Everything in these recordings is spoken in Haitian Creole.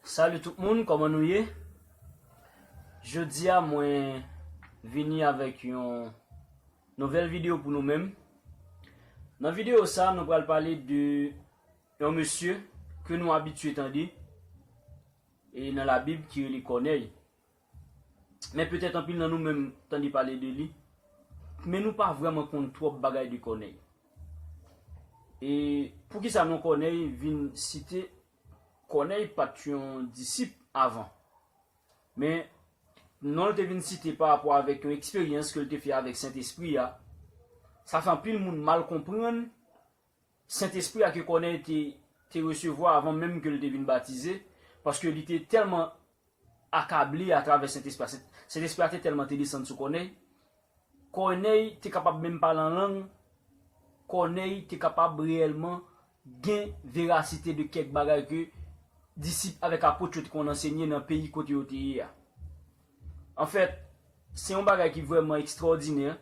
Salut tout moun, koman nou ye? Jodia mwen vini avèk yon nouvèl video pou nou menm. Nan video sa nou pral pale de Yon mesye ke nou abitye tande e nan labib ki rele Kònèy. Men petèt anpil nan nou menm tande pale de li, men nou pa vrèman konn twòp bagay de Kònèy. E poukisa non Kònèy vin site? Kònèy pa t yon disip avan, men non l te vin site pa rapò avèk yon eksperyans ke l te fè avèk Sentespri a, sa fè anpil moun mal konprann Sentespri a ke Kònèy te te resevwa avan menm ke l te vin batize, paske li te tèlman akable atravè Sentespri a, Sentespri a te tèlman te desann sou Kònèy, Kònèy te kapab menm pale an lang, Kònèy te kapab reyèlman gen verasite de kèk bagay ke disip avèk apot yo te konn ansenye nan peyi kote yo te ye a. Anfèt, se yon bagay ki vrèman ekstwòdinè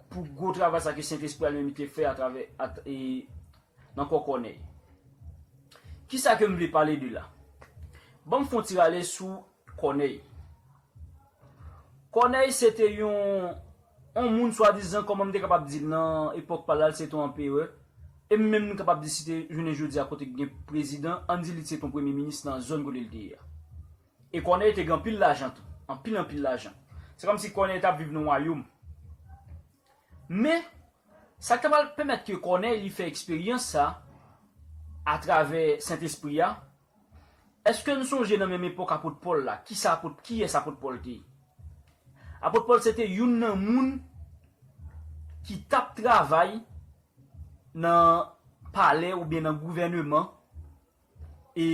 pou gwo travay sa ke Sentespri a li menm li te fè atravè nan kò Kònèy. Kisa ke m vle pale de la? Ban m fè yon ti rale sou Kònèy. Kònèy se te yon moun swadizan, kòman m te kapab di l nan epòk pa la, li se te yon anperè, e menm m kapab di si te jounen jodi a kote gen prezidan, ann di li te yon premye minis nan zòn kote li te ye a. E Kònèy te gen anpil lajan tou. Anpil anpil lajan. Se kòm si Kònèy t ap viv nan wayoum. Men, sa k ta pral pèmèt ke Kònèy li fè eksperyans sa atravè Sentespri a, èske n sonje nan menm epòk Apot Pòl la, ki sa Apot, kiyès Apot Pòl te ye? Apot Pòl se te youn nan moun ki t ap travay nan palè oubyen nan gouvèneman e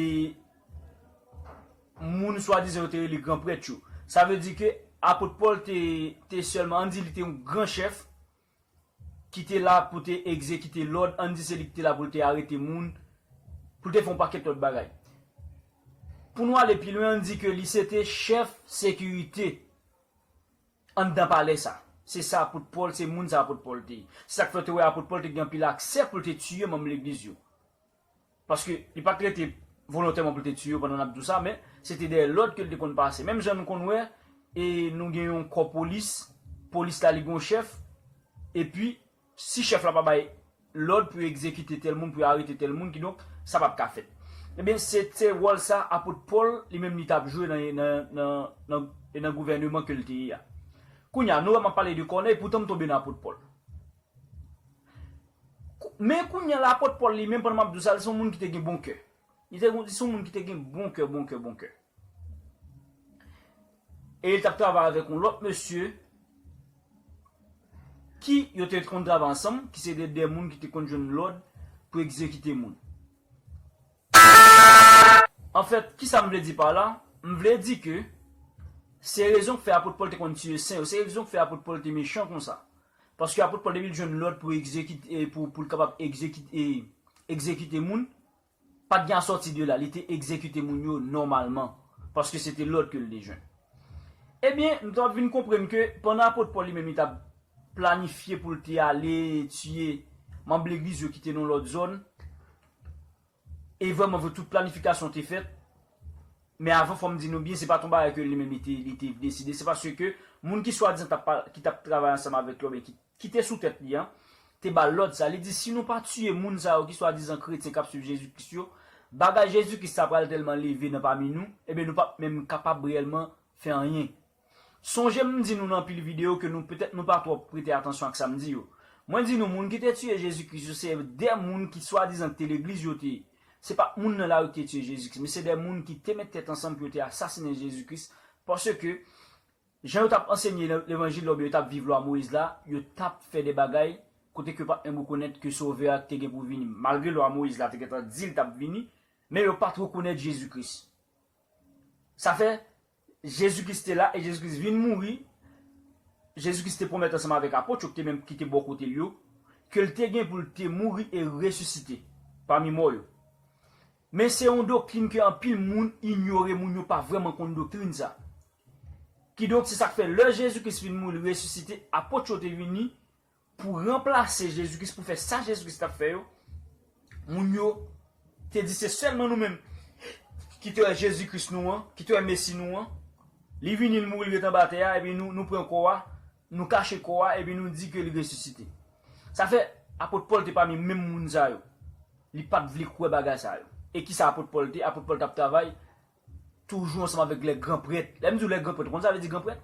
moun swadizan yo te rele gran prèt yo. Sa vle di ke Apot Pòl te sèlman, ann di li te yon gran chèf ki te la pou te egzekite lòd, ann di se li ki te la pou l te arete moun, pou l te fè yon pakèt lòt bagay. Pou nou ale pi lwen, ann di ke li se te chèf sekirite anndan palè sa. Se sa Apot Pòl, se moun sa Apot Pòl te ye. Se sa k fè w te wè Apot Pòl te gen anpil aksè pou l te tiye manm legliz yo. Paske li pat rete volontèman pou l te tiye yo pandan nap di w sa men se te dèyè lòd ke l te konn pase menm jan nou konn wè e nou gen yon kò polis polis la li gen yon chèf epi si chèf la pa bay lòd pou yo egzekite tèl moun pou yo arete tèl moun kidonk sa pap ka fèt ebyen se te wòl sa apot Pòl li menm li tap jwe nan nan gouvèneman ke l te ye a kounya nou wè map pale de Kònèy poutan m tonbe nan apot Pòl. Men kounye a la, apot Pòl li menm, pandan m ap di w sa, li se yon moun ki te gen bon kè. Li te yon, li se yon moun ki te gen bon kè, bon kè, bon kè. E li t ap travay avèk yon lòt mesye, ki yo te konn travay ansanm, ki se te de moun ki te konn jwenn lòd pou egzekite moun. Anfèt, ki sa m vle di pa la? M vle di ke se rezon ki fè apot Pòl te konn tiye sen yo, se rezon ki fè apot Pòl te mechan konsa. Paske apot Pòl depi l jwenn lòd pou l kapab egzekite moun, pa t gen asòti de la, li te egzekite moun yo nòmalman, paske se te lòd ke l te jwenn. Ebyen, nou kapab vin konprann ke pandan apot Pòl li menm li t ap planifye pou l te ale tiye manm legliz yo ki te nan lòt zòn, E vrèman vre tout planifikasyon te fèt, men avan fò m di nou byen se pa t yon bagay ke li menm li te deside, se paske moun ki swadizan t ap ki t ap travay ansanm avèk li oubyen ki te sou tèt li an te ba l lòd sa, li di si nou pa tiye moun sa yo ki swadizan kretyen k ap swiv Jezi Kris yo, bagay Jezi Kris sa pral tèlman leve nan pami nou, eben nou p ap menm kapab reyèlman fè anyen. Sonje m di nou nan anpil videyo ke nou petèt nou pa twòp prete atansyon ak sa m di yo. Mwen di nou moun ki te tiye Jezi Kris yo se de moun ki swadizan ki te legliz yo te se pat moun nan lari ki te tiye Jezi Kris men se de moun ki te met tèt ansanm pou yo te asasinen Jezi Kris paske jan yo tap ansenye levanjil la oubyen yo tap viv lwa Moyiz la yo tap fè de bagay kote ke yo pat menm rekonèt ke sovè a te gen pou vini malgre lwa Moyiz la te gentan di li tap vini men yo pat rekonèt Jezi Kris sa fè Jezi Kris te la e Jezi Kris vin mouri. Jezi Kris te pwomèt ansanm avèk apot yo ki te bò kote l yo ke l te gen pou l te mouri e resisite pami mò yo. Men se yon doktrin ke anpil moun inyore, moun yo pa vrèman konn doktrin sa. Kidonk se sa k fè lè Jezi Kris fin mouri li resisite, apot yo te vini Pou ranplase Jezi Kris, pou fè sa Jezi Kris t ap fè yo, moun yo te di se sèlman nou menm ki te wè Jezi Kris nou an, ki te wè Mesi nou an. Li vini, li mouri, li ret anba atè a, epi nou pran kò a, nou kache kò a, epi nou di ke li resisite. Sa fè, apot Pòl te pami menm moun sa yo. Li pa t vle kwè bagay sa yo. E kisa apot Pòl te? Apot Pòl t ap travay Toujou ansanm avèk lè gran prèt. Lè m di w lè gran prèt, ou konn sa vle di gran prèt?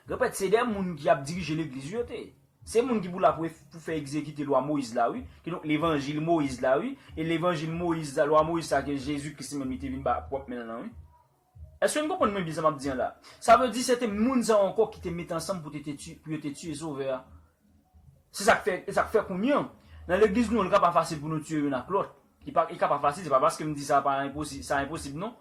Gran prèt se de moun ki ap dirije legliz yo te. Se moun ki pou la pou fè egzekite lwa Moyiz la wi, kidonk levanjil Moyiz la wi, e levanjil Moyiz sa, lwa Moyiz sa ke Jezi Kris li menm li te vin ba ak pwòp men l lan wi. Èske n konprann mwen byen sa m ap di an la? Sa vle di se te moun sa yo ankò ki te mete ansanm pou yo te tiye Sovè a. Se sa k fè, e sa k fè kounye an, nan legliz nou an li ka pa fasil pou nou tiye youn ak lòt. Li pa, li ka pa fasil, se pa paske m di sa pa enposi, sa enposib non.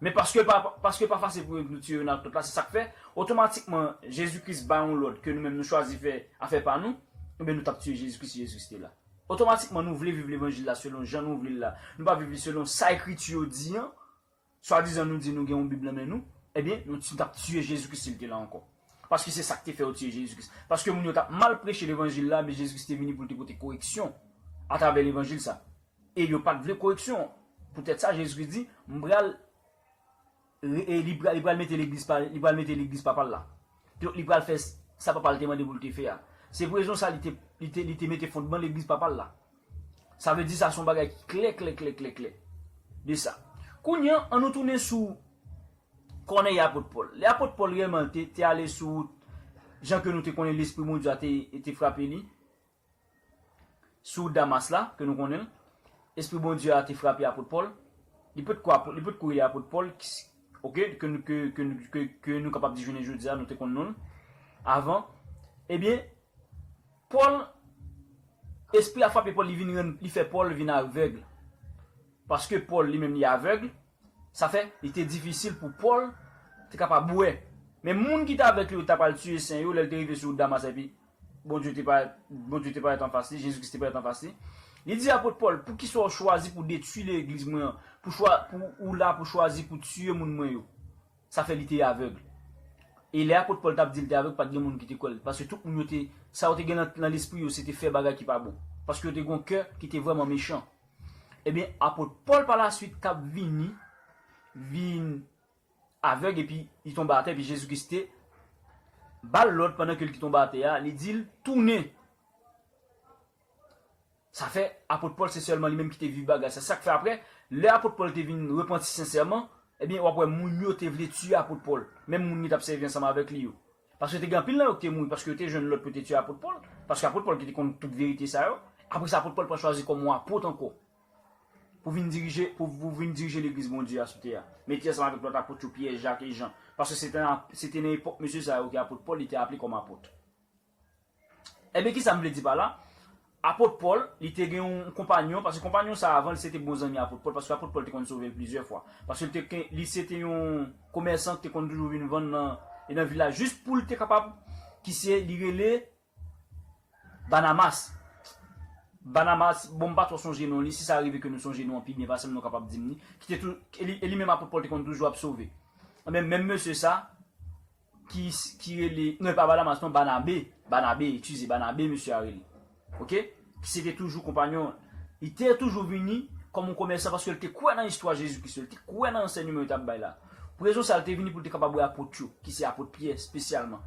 Men paske l pa, paske l pa fasil pou yo nou tire youn ak lòt la, se sa k fè, otomatikman, Jezi Kris bay yon lòd ke nou menm nou chwazi fè afè pa nou, enben nou t ap tiye Jezi Kris si Jezi Kris te la. Otomatikman nou vle viv levanjil la selon jan nou vle l la, nou pa viv li selon sa ekriti yo di an. Swadizan nou di nou gen yon bib nan men nou, ebyen nou t tap tiye Jezi Kris sil te la ankò. Paske se sak te fè yo tiye Jezi Kris. Paske moun yo tap mal preche levanjil la men Jezi Kris te vini poul te pote koreksyon atravè levanjil sa. E yo pat vle koreksyon an. Poutèt sa Jezi Kris di, m pral li pral mete legliz pa li pral mete legliz papal la. Donk li pral fè sa papal te mande poul te fè a. Se pou rezon sa li te li te mete fondman legliz papal la. Sa vle di sa son bagay ki klè klè klè klè klè de sa. Kounye an, an nou tounen sou kònèy apot Pòl. Lè apot Pòl rèlman te te ale sou wout jan ke nou te konnen Lespri Bondye a te te frape li, sou wout Damas la, ke nou konnen l, Espri Bondye a te frape apot Pòl, li pot ko apot, li pot ko rele apot Pòl, ok, ke nou ke ke ke ke nou kapab di jounen jodi a, nou te konn non l, avan, ebyen, Pòl, Espri a frape Pòl li vin rann li fè Pòl vin avèg. Paske Pòl li menm li avèg, sa fè li te difisil pou Pòl te kapab wè. Men moun ki te avèk li yo ta pral tiye sen yo lè l te rive sou wout Damas epi Bondye te parèt Bondye te parèt anfas li, Jezi Kris te parèt anfas li. Li di apot Pòl, Poukisa w chwazi pou detwi legliz mwen an, pou chwa pou ou la pou chwazi pou tiye moun mwen yo? Sa fè li te avèg. E lè apot Pòl t ap di l te avèg, pa t gen moun ki te kwè l, paske tout moun yo te, sa yo te gen nan lespri yo se te fè bagay ki pa bon, paske yo te gen yon kè ki te vrèman mechan. Ebyen, apot Pòl palaswit t ap vini vin avèg epi li tonbe atè, epi Jezi Kris te ba l lòd pandan ke li te tonbe atè a, li di l, Tounen! Sa fè, apot Pòl se sèlman li menm ki te viv bagay sa. Sa k fè apre, lè apot Pòl te vin repanti sensèman, ebyen, w ap wè moun yo te vle tiye apot Pòl, menm moun ki t ap sèvi ansanm avèk li yo. Paske te gen anpil nan yo ki te mouri paske yo te jwenn lòd pou yo te tiye apot Pòl, paske apot Pòl ki te konn tout verite sa yo. Apre sa, apot Pòl pral chwazi kòm yon apot ankò pou vin dirije pou vin dirije Legliz Bondye a sou tè a, mete ansanm avèk lòt apot yo, Pyè, Jak e Jan, paske se te nan epòk mesye sa yo ki apot Pòl li te aple kòm apot. Enben, ki sa m vle di pa la? Apot Pòl, li te gen yon konpanyon, paske konpanyon sa a avan l se te bon zanmi apot Pòl, paske apot Pòl te konn sove l plizyè fwa, paske l te gen, li se te yon komèsan ki te konn toujou vin vann nan, e nan vil la, jis pou l te kapab, ki se, li rele Banamas. Banamas, bon m pa twò sonje non li, si sa rive ke nou sonje non an pi byen pase m, nou kapab di m li, ki te tou, e li menm apot Pòl te konn toujou ap sove. Enben, menm mesye sa, ki ki rele non e pa badamas non banabe banabe eskize banabe mesye a rele ok ki se te toujou konpanyon l li te toujou vini kòm yon komèsan paske l te kwè nan istwa jezi kris yo l te kwè nan ansènyeman yo t ap bay la pou rezon sa l te vini pou l te kapab wè apot yo ki se apot pyè spesyalman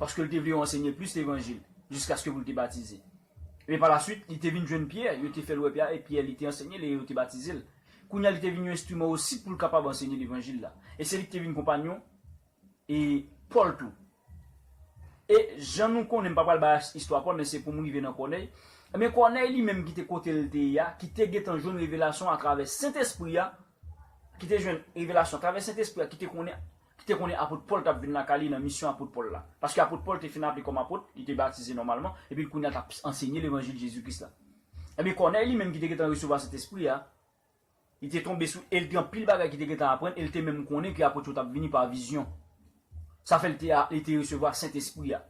paske l te vle yo ansènye plis levanjil jiskaske pou l te batize epi palaswit li te vin jwenn pyè yo te fè l wè pyè a e pyè li te ansènye l e yo te batize l kounye a li te vin yon enstriman osi pou l kapab ansènye levanjil la e se li ki te vin konpanyon e Pòl tou. E, jan nou konnen, m pa pral bay istwa Pòl, men se pou m rive nan Kònèy, enben, Kònèy li menm ki te kote l te ye a, ki te gentan jwenn revelasyon atravè Sentespri a, ki te jwenn revelasyon atravè Sentespri a, ki te konnen, ki te konnen apot Pòl t ap vin lakay li nan misyon apot Pòl la, paske apot Pòl te fin aple kòm apot, li te batize nòmalman, epi l kounye a t ap ansenye levanjil Jezi Kris la. Enben, Kònèy li menm ki te gentan resevwa Sentespri a, Li te tonbe sou e l te anpil bagay ki te gentan aprann e l te menm konnen ke apot yo t ap vini pa vizyon. Sa fè l te li te resevwa Sentespri a.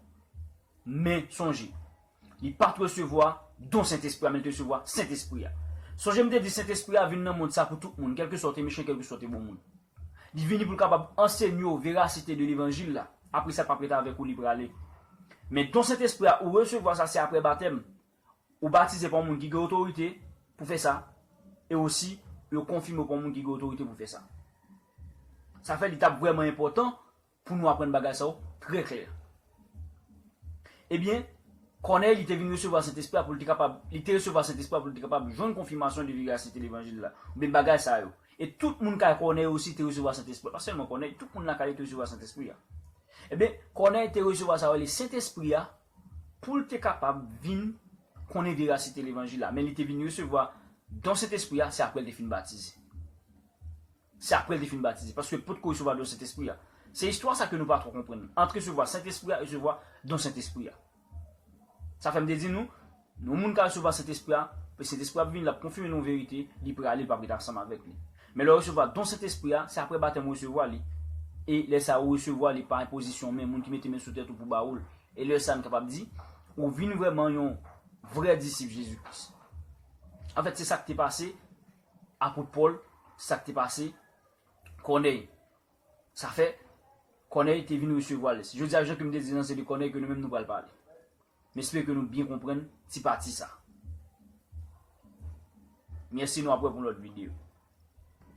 Men, sonje, li pa t resevwa don Sentespri a men li te resevwa Sentespri a. Sonje m te di Sentespri a vin nan mond sa pou tout moun, kèlkeswa w te mechan kèlkeswa w te bon moun. Li vini pou l kapab ansenye w verasite de levanjil la, apresa l p ap ret avèk ou li prale. Men don Sentespri a ou resevwa sa se aprè batèm, Ou batize pa yon moun ki gen otorite pou fè sa, e osi yo konfime w pa yon moun ki gen otorite pou fè sa. Sa fè li t ap vrèman enpòtan pou nou aprann bagay sa yo trè klè. Ebyen, Kònèy li te vin resevwa Sentespri a pou l te kapab, li te resevwa Sentespri a pou l te kapab jwenn konfimasyon de verasite levanjil la, oubyen bagay sa yo. E tout moun kay Kònèy osi te resevwa Sentespri a, pa sèlman Kònèy, tout moun lakay li te resevwa Sentespri a. Ebyen, Kònèy te resevwa sa yo rele Sentespri a, pou l te kapab vin konnen verasite levanjil la, men li te vin resevwa don Sentespri a se apre l te fin batize. Se apre l te fin batize, paske l po t ko resevwa don Sentespri a. Se istwa sa ke nou pa twò konprann, ant resevwa Sentespri a e resevwa don Sentespri a. Sa fè m te di nou, Yon moun ka resevwa Sentespri a, epi Sentespri a ap vini, l ap konfime nou yon verite, li prale, l pap ret ansanm avèk li. Men lè w resevwa don Sentespri a, se aprè batèm ou resevwa li, e lè sa ou resevwa li pa enpozisyon men, moun ki mete men sou tèt ou pou ba ou l, e lè sa n kapab di, ou vin vrèman yon vrè disip Jezi Kris. Anfèt, se sa k te pase Apot Pòl, se sa k te pase Kònèy. Sa fè, Kònèy te vin resevwa l. Jodi a, jan ke m te di l nan, se de Kònèy ke nou menm nou pral pale. M espere ke nou byen konprann ti pati sa. Merci nou ap wè pou lòt video.